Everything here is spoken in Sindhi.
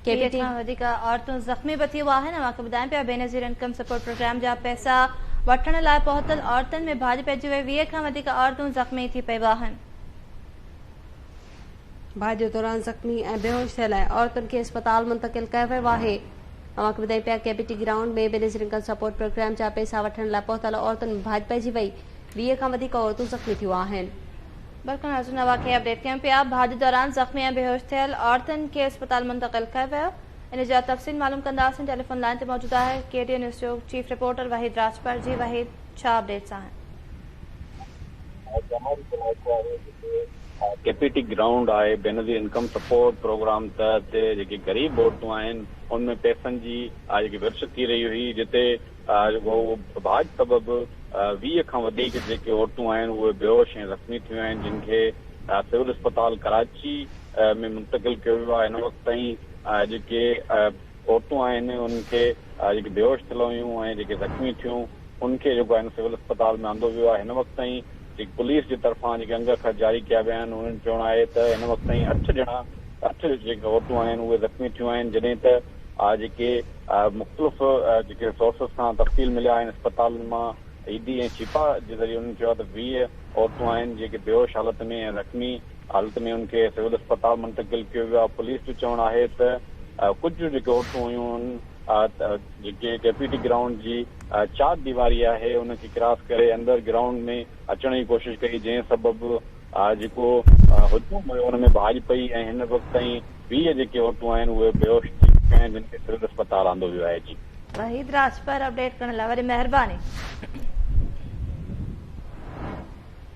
ڪي ٽي کان وڌيڪ عورتون زخمي به ٿيون آهن اوهان کي ٻڌايان پيا بينظير انڪم سپورٽ پروگرام جا پئسا وٺڻ لاء پهتل عورتن ۾ ڀاڄ پئجي وئي ويهه کان وڌيڪ عورتون زخمي ٿي پيو آهن ڀاڄ دوران زخمي ۽ بيهوش ٿيل ۽ عورتن کي اسپتال منتقل ڪيو ويو آهي اوهان کي ٻڌايان پيا K P T ground ۾ Benazir income support programme جا پئسا وٺڻ لاء پهتل عورتن ۾ ڀاڄ پئجي وئي ويهه کان وڌيڪ عورتون زخمي ٿيون آهن. برکان حسن ايوان کي اپڊيٽ ڪيون پيا، ڀاڄ دوران زخمي ۽ بيهوش ٿيل عورتن کي اسپتال منتقل ڪيو ويو، ان جا تفصيل معلوم ڪنداسين، ٽيليفون لائين تي موجود آهي ڪي ٽي اين نيوز جو چيف رپورٽر وحيد راڄپر، جي وحيد ڇا اپڊيٽس آهن. ڪي پي ٽي گرائونڊ آء بينظير انڪم سپورٽ پروگرام تحت جيڪي غريب عورتون آهن ان ۾ پئسن جي آء جيڪي ورڇ ٿي رهي هئي جتي ڀاڄ سبب ويهه کان وڌيڪ جيڪي عورتون آهن اهي بيهوش ۽ زخمي ٿيون آهن جن کي سول اسپتال ڪراچي ۾ منتقل ڪيو ويو آهي هن وقت تائين جيڪي عورتون آهن انهن کي جيڪي بيهوش ٿيل هيون ۽ جيڪي زخمي ٿيون ان کي جيڪو آهي سول اسپتال ۾ آندو ويو آهي هن وقت تائين جيڪي پوليس جي طرفان جيڪي انگ اکر جاري ڪيا ويا آهن انهن جو چوڻ آهي ته هن وقت تائين اٺ ڄڻا اٺ جيڪي عورتون آهن اهي زخمي ٿيون آهن جڏهن ته آء جيڪي مختلف جيڪي سورسز کان تفصيل مليا آهن اسپتالن مان اي ڊي ۽ شفا جي ذريعي انهن چيو آهي ته ويهه عورتون آهن جيڪي بيهوش حالت ۾ ۽ زخمي حالت ۾ انهن کي سول اسپتال منتقل ڪيو ويو آهي پوليس جو چوڻ آهي ته ڪجهه جيڪي عورتون هيون جيڪي ڪي پي ٽي گرائونڊ جي چار ديواري آهي ان کي ڪراس ڪري اندر گرائونڊ ۾ اچڻ جي ڪوشش ڪئي جنهن سبب جيڪو هجوم هيو ان ۾ ڀاڄ پئي ۽ هن وقت تائين ويهه جيڪي عورتون آهن اهي بيهوش ٿي چڪيون آهن جن کي سول اسپتال آندو ويو آهي جي. وحيد راڄپر اپڊيٽ ڪرڻ لاء وڏي مهرباني.